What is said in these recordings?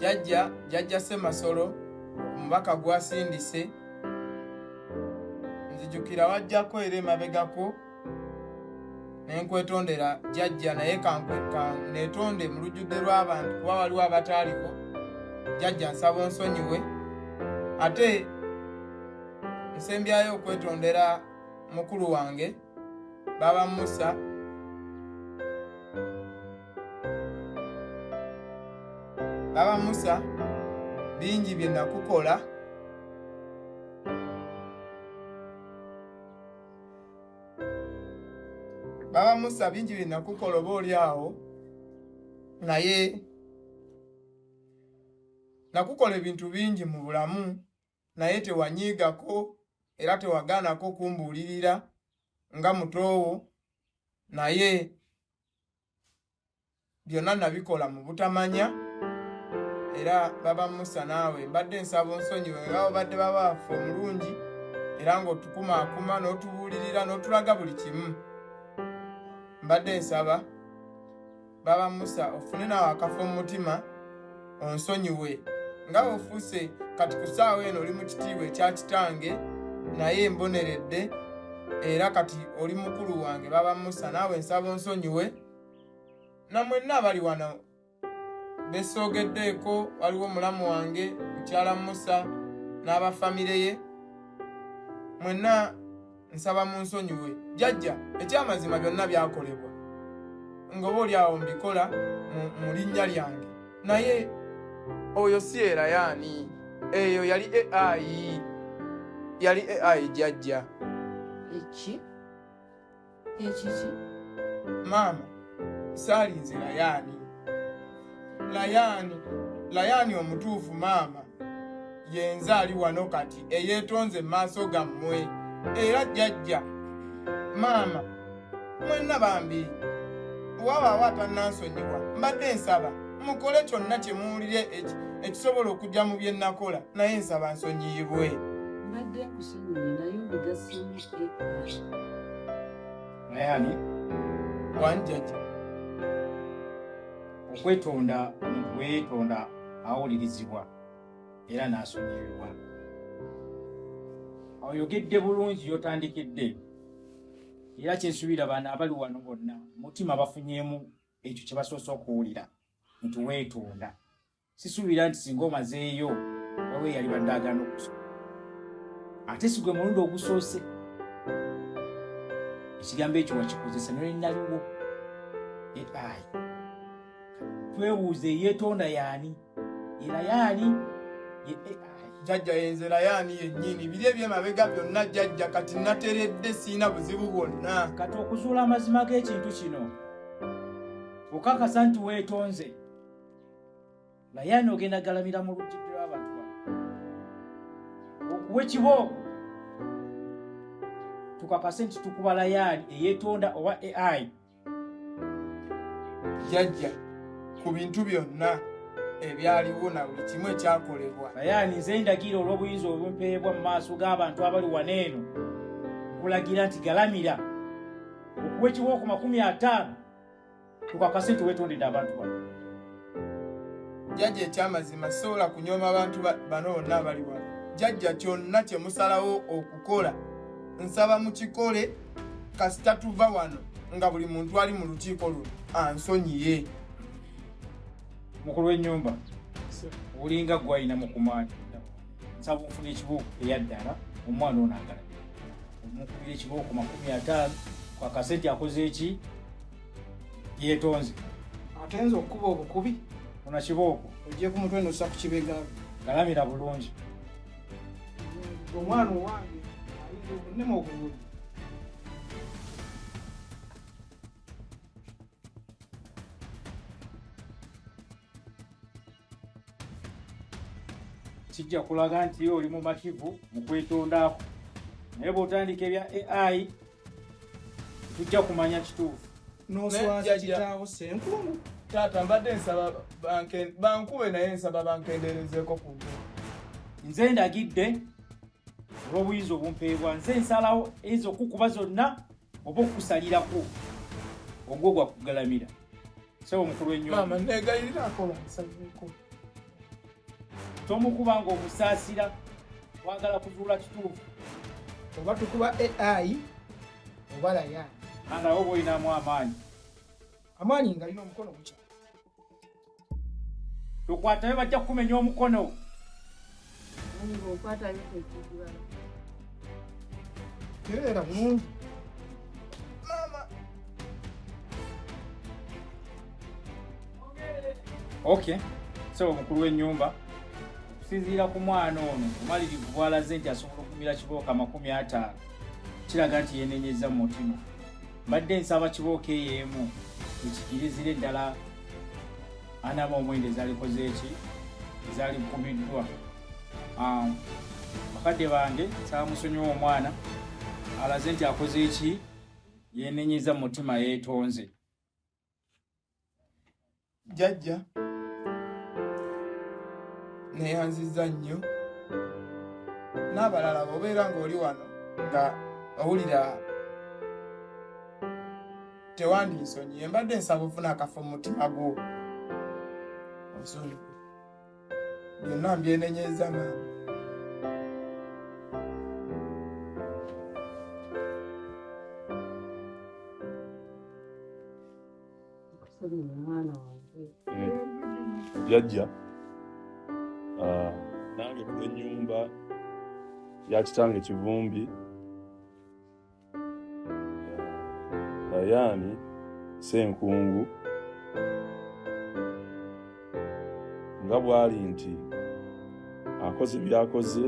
jajja jajja ssemasolo omubaka gwasindise nzijukira wajjako era emabegako nenkwetondera jajja naye kanetonde mu lujjudde lw'abantu kuba waliwo abataaliwo jajja nsaba onsonyiwe ate nsembyayo okwetondera mukulu wange baba musa Baba Musa, bingi bye nakukola Baba Musa, bingi bye nakukola oba oli awo naye nakukola ebintu bingi mu bulamu naye tewanyiigako era tewagaanako kumbuulirira nga mutoowo naye byonna nabikola mu butamanya era baba musa naawe mbadde nsaba onsonyiwe nga obadde baba waffe omulungi era ng'otukumaakuma n'otubuulirira n'otulaga buli kimu mbadde nsaba baba musa ofune naawe akafo mu mutima onsonyiwe nga ofuuse kati ku ssaawa eno oli mu kitiibwa ekya kitange naye mboneredde era kati oli mukulu wange baba musa naawe nsaba onsonyiwe namwenna abali wano besoogeddeeko waliwo omulamu wange mukyala musa n'abafamire ye mwenna nsaba munsonyiwe jajja ekyamazima byonna byakolebwa nga oba oli awo mbikola mu linnya lyange naye oyo si era yaani eyo yali ai yali ai jajja eki ekiki maama saalinze layaani layaani layaani omutuufu maama yenze ali wano kati eyeetonze mu maaso gammwe era jjajja maama mwenna bambi wabaawo atannansonyiwa mbadde nsaba mukole kyonna kye muwulire ekisobola okujja mu bye nnakola naye nsaba nsonyiyibwe mbadde nkusonyiye naye obigasemu naye ani wanjaja okwetonda omuntu weyetonda awulirizibwa era n'asonyiyibwa oyogedde bulungi yotandikidde era kyensuubira baana abali wano bonna mutima bafunyemu ekyo kye basoose okuwulira nti weetonda sisuubira nti singa omazeeyo waliwo eyali badde agana okusoma ate si gwe mulundi ogusoose ekigambo ekyo wakikozesa nolinaliwo ai twebuuze eyetonda yaani era yaani jajja yenzera yaani yennyini biri ebyemabega byonna jajja kati nateredde siina buzibu bwonna kati okuzuula amazima g'ekintu kino okakasa nti weetonze naye ani ogenda galamira mu lujjidde lw'abantu bano okuwa ekibooko tukakase nti tukuba layaali eyetonda oba ai jajja ku bintu byonna ebyaliwo na buli kimu ekyakolebwa layaani nze ndagira olw'obuyinza obumpeebwa mu maaso g'abantu abali wana eno nkulagira nti galamira okuwa ekibooko makumi ataano tukakase nti wetondedde abantu bano jajja ekyamazima sobola kunyoma abantu bano bonna abali wano jajja kyonna kyemusalawo okukola nsaba mukikole kasita tuva wano nga buli muntu ali mu lukiiko luno ansonyiye mukulu w'ennyumba olinga gwalina mukumaani nsaba ofuna ekibooko eyaddala omwana ono agala omukubira ekibooko makumi ataano kwakasente akoze eki yetonze atenze okukuba obukubi ona kibooko ojje ku mutwe nossa ku kibega galamira bulungi omwana owange ayinza okunema okugulu kijja kulaga nti oli mumativu mu kwetondaako naye bw'otandika ebya ai tujja kumanya kituufu noswaza kitaawo senkungu taata mbadde nsaba bankube naye nsaba bankenderezeeko ku nze ndagidde olw'obuyinza obumpeebwa nze nsalawo ezo okukuba zonna oba okukusalirako ogwo gwakugalamira Sebo mukulu enyo. Mama nega ira akola musajjeko. Tomukuba ngo musasira wagala kuzula kitufu. Oba tukuba AI obala ya. Ana obo ina mu amani. Amani ngali no mukono kucha. Tukwatayo bajja kumenya omukono. Era bulungi. Mama. Okay. So mukulu w'ennyumba okusinziira ku mwana ono omalirivu bwalaze nti asobola okumira kibooka amakumi ataano kiraga nti yenenyezza mu mutima. mbadde nsaba kibooko eyo emu ekikirizire ddala anaba omwenda ezalikoze eki ezalikumiddwa ah, bakadde bange nsaba musonyiwa omwana alaze nti akoze eki yenenyeza mu mutima yetonze jajja neyanziza nnyo n'abalala bobeera ng'oli wano nga owulira tewandinsonyiye mbadde nsaba ofuna akafo mu mutima gwo ozonyiwe byonna mbyenenyeza maama yajja ah, nange ku enyumba ya kitange kivumbi Dayani Senkungu nga bw'ali nti akoze byakoze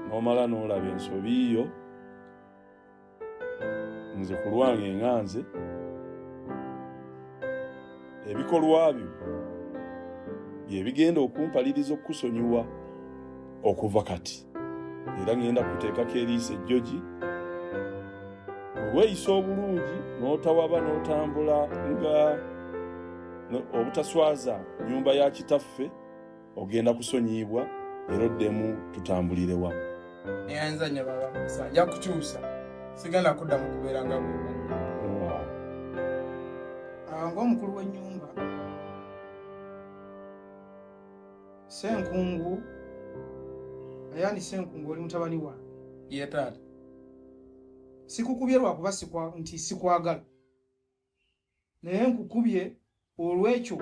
n'omala n'olaba ensobi yo nze ku lwange nga nze ebikolwa byo bye bigenda okumpaliriza okukusonyiwa okuva kati era ŋŋenda kuteekako eriiso ejjogi weeyisa obulungi n'otawaba n'otambula nga obutaswaza nnyumba ya kitaffe ogenda kusonyiyibwa era oddemu tutambulire wamu naye ayinza nyo baba musa ajja kukyusa sigenda kudda mu kubeera nga bweba ngaomukulu w'ennyumba senkungu ayani senkungu oli mutabani wange ye taata sikukubye lwakuba nti sikwagala naye nkukubye olw'ekyo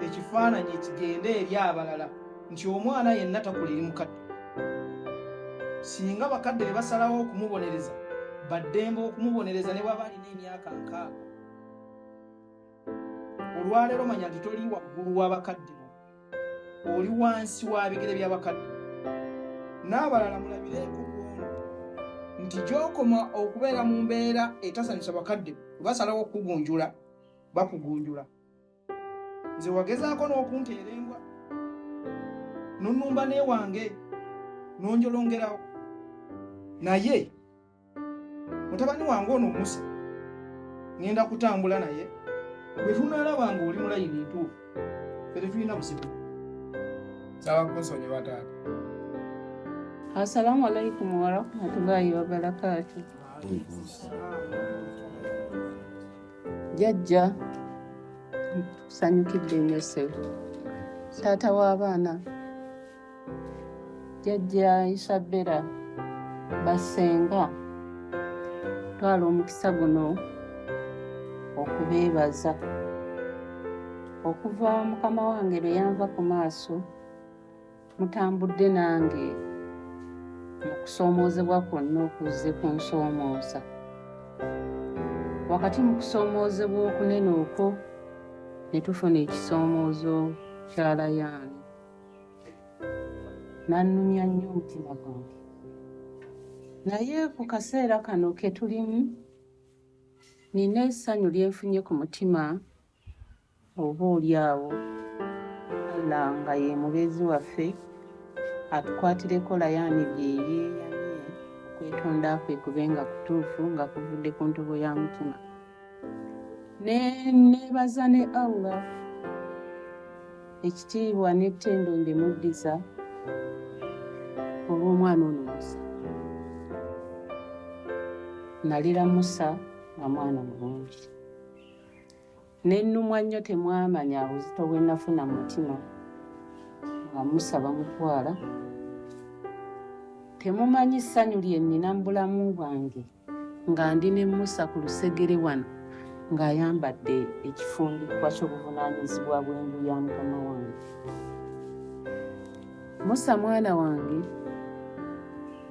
ekifaananyi ekigende eri abalala nti omwana yenna takula eri mukadde singa bakadde be basalawo okumubonereza baddembe okumubonereza ne bwaba alina emyaka nkaaga olwaleero manya nti toli waggulu w'abakadde oli wansi wa bigere by'abakadde n'abalala mulabireeko bwono nti gy'okoma okubeera mu mbeera etasanyusa bakadde basalawo okukugunjula bakugunjula nze wagezaako n'okunteera embwa nonumba newange nonjolongerawo naye mutabani wange ono musa ngenda kutambula naye bwe tunalaba nga oli mulayini ntuufu fe tetulina busibu saba kunsonyiwa taata assalamu alaikum warahmatullahi wabarakatu jajja tusanyukidde nnyo sebo taata w'abaana jajja isabera basenga twala omukisa guno okubeebaza okuva mukama wange lwe yanva ku maaso mutambudde nange mu kusoomoozebwa kwonna okuzze ku nsoomooza wakati mu kusoomoozebwa okunene okwo ne tufuna ekisoomoozo kya layaani n'annumya nnyo omutima gwange naye ku kaseera kano ke tulimu nina essanyu lyenfunye ku mutima oba oli awo alla nga ye mubeezi waffe atukwatireko layani bye yeeyamye okwetonda kwe kube nga kutuufu nga kuvudde ku ntobo ya mutima ne neebaza ne allah ekitiibwa n'ettendo mbimuddiza olw'omwana ono musa nalira musa nga mwana mulungi nennumwa nnyo temwamanya obuzito bwe nafuna mu mutima nga musa bamutwala temumanyi ssanyu lye nnina mu bulamu bwange nga ndi ne musa ku lusegere wano ng'ayambadde ekifundikwa ky'obuvunaanyizibwa bw'enju ya mukama wange musa mwana wange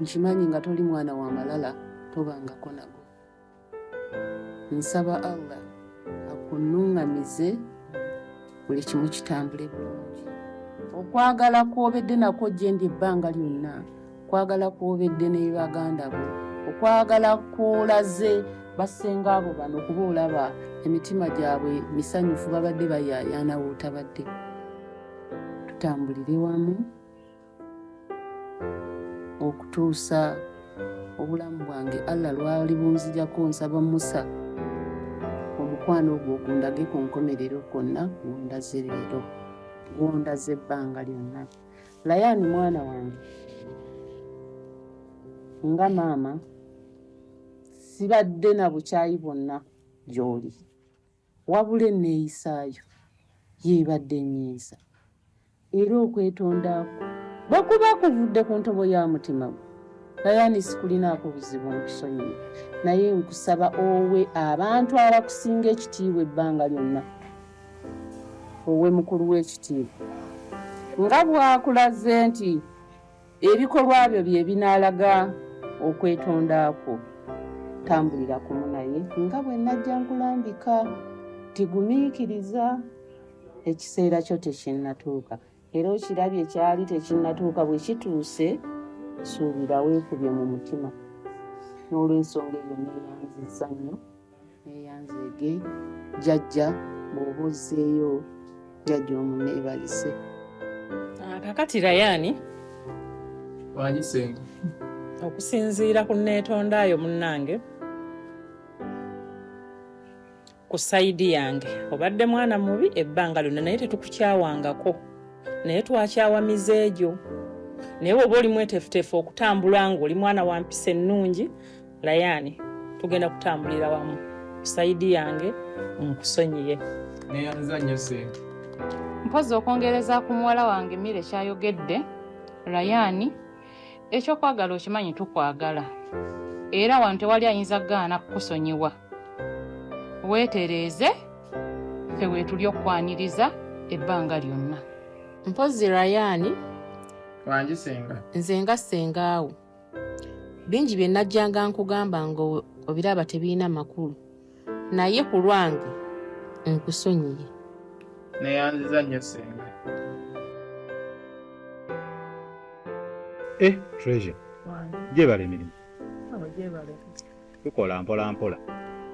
nkimanyi nga toli mwana wa malala tobangako nago nsaba allah akunuŋŋamize buli kimu kitambule bulungi okwagala kw'obedde nakwo gye ndi ebbanga lyonna okwagala kwobedde ne baganda bo okwagala kwolaze bassenga abo bano kuba olaba emitima gyabwe misanyufu babadde bayayaana wotabadde tutambulire wamu okutuusa obulamu bwange allah lwali bunzijako nsaba musa omukwano ogwo ogundage ku nkomerero kwonna gwondaze leero gwondaze ebbanga lyonna Layani mwana wange, nga maama sibadde na bukyayi bwonna gy'oli, wabula enneeyisaayo yeebadde ennyiisa era okwetonda kwo bwe kuba kuvudde ku ntobo ya mutima gwo Layani sikulinaako buzibu nkusonyiye naye nkusaba owe abantu abakusinga ekitiibwa ebbanga lyonna owe mukulu w'ekitiibwa nga bw'akulaze nti ebikolwa byo bye binaalaga okwetonda kwo tambulira kumu naye nga bwe najja nkulambika tigumiikiriza ekiseera kyo tekinnatuuka era okirabye kyali tekinnatuuka bwe kituuse suubira weekubye mu mutima n'olwensonga eyo neeyanziza nnyo neeyanzeege jajja bw'oba ozzeeyo jajja omu neebalise ah, kakati rayaani wanyisenga okusinziira ku neetondaayo munnange ku sayidi yange obadde mwana mubi ebbanga lyonna naye tetukukyawangako naye twakyawa mize egyo naye woba oli mwetefutefu okutambula nga oli mwana wa mpisa ennungi layani tugenda kutambulira wamu ku sayidi yange nkusonyiye neyanza nnyo sente mpozi okwongereza ku muwala wange mire kyayogedde layani ekyokwagala okimanyi tukwagala era wano tewali ayinza kugaana kukusonyiwa weetereeze ffe weetuli okukwaniriza ebbanga lyonna mpozzi rayaani wangi senga nze nga sengaawo bingi bye najjanga nkugamba nga obiraba tebirina makulu naye ku lwange nkusonyiye neyanziza nnyo senga e eh, treasure gyebala emirimu tukola mpola mpola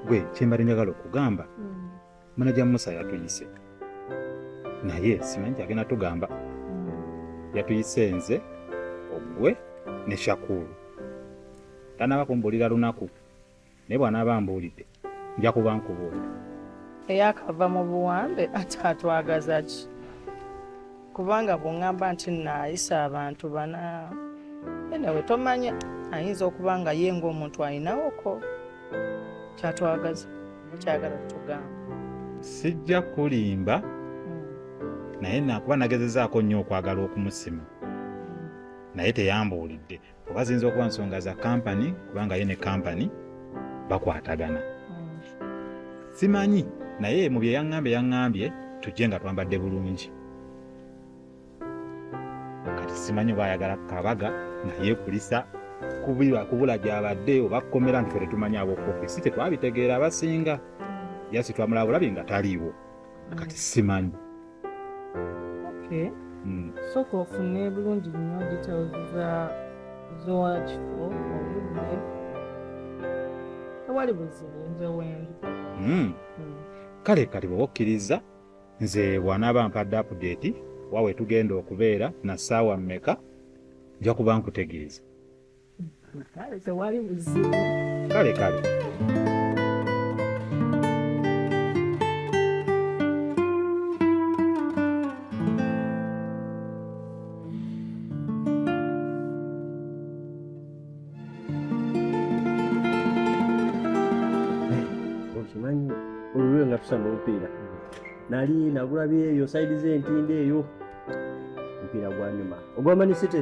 gwe kyembadde njagala okugamba mm. manaja musa yatuyise naye simanyi kyagenda tugamba mm. yatuyise nze ogwe ne shakulu tanaaba kumbuulira lunaku naye bwanaaba mbuulidde nja kuba nkubuulira eyakava mu buwambe ate atwagaza ki kubanga bwongamba nti nayisa abantu bana enewe tomanya ayinza okuba nga ye ngaomuntu alinawoko kyatwagaza kyagala tugamba sijja kulimba hmm. naye nakuba nagezezaako nnyo okwagala okumusima hmm. naye teyambuulidde oba ziyinza okuba nsonga za kampani kubanga ye ne kampani bakwatagana hmm. simanyi naye mu bye yaŋŋambye yaŋŋambye tujje nga twambadde bulungi kati simanyi oba ayagala kabaga naye kulisa kubula gyabadde oba kukomera nti fe tetumanyi abokofi si tetwabitegeera abasinga yasi twamulabulabi nga taliiwo kati simanyi okay. mm. soka ofune bulungi nnyo details za zowakifo obudde tewali buzibu nze wendi mm. mm. kale kati bwe okkiriza nze bw'anaaba mpadde apudeeti wa we tugenda okubeera na ssaawa mmeka nja kuba nkutegeeza kale kale okimanyi olulwe nga tusamba omupiira nali nagulabyeyo saidi z'entindo eyo omupiira gwanyuma ogwamanyi site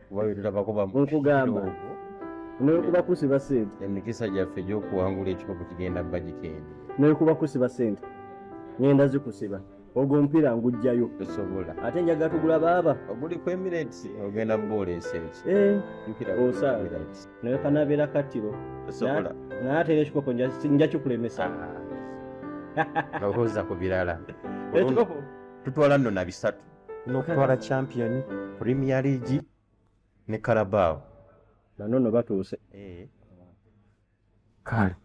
nkugamba nekuba kusiba sente emikisa gyaffe gyokuwangula ekikopo kigenda bajika eno nekuba kusiba sente ngenda zikusiba ogwo omupiira ngujjayo tosobola ate njaga tugula baaba oguli ku emirate ogenda bwoleesa eki eh, osaala naye kanabeera kattiro naye ate era ekikopo njakikulemesa ah. lowooza ku birala tutwala nno na bisatu nokutwala champion premier league ne carabao nanono batuuse eh. kale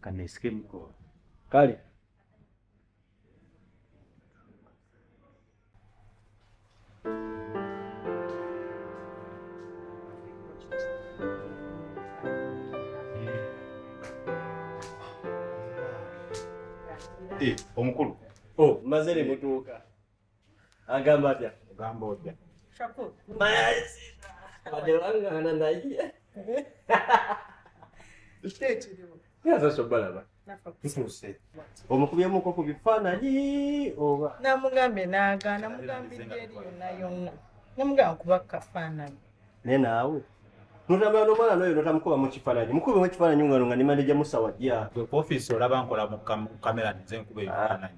kanesikemko kale Eh, omukulu oh, mazere mutuuka Agamba atya? Ogamba otya? Shakur. Mazi. Adelangana naye. Ekiriwo. Yaza sobalaba. Tutuuse. Omukubyemuko ku bifaananyi oba? Namugambye n'agaana, mugambidde eri yonna yonna. Namugamba kuba kafaananyi. Naye naawe notambula nomwana noyo notamukuba mukifananyi mukube mukifananyi ngano nga nimaneja musawa ja office olaba nkola mu kamera nze nkuba ebifananyi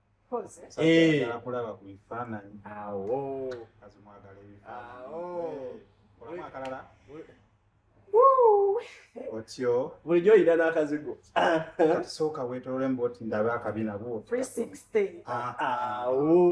Eh. kulaba ku bifaananyi awo kazi mwagala ebifaananyi akalala otyo bulijjo oyina n'akazigo sooka weetolole mba oti ndabe akabina bwo ah, ah. awo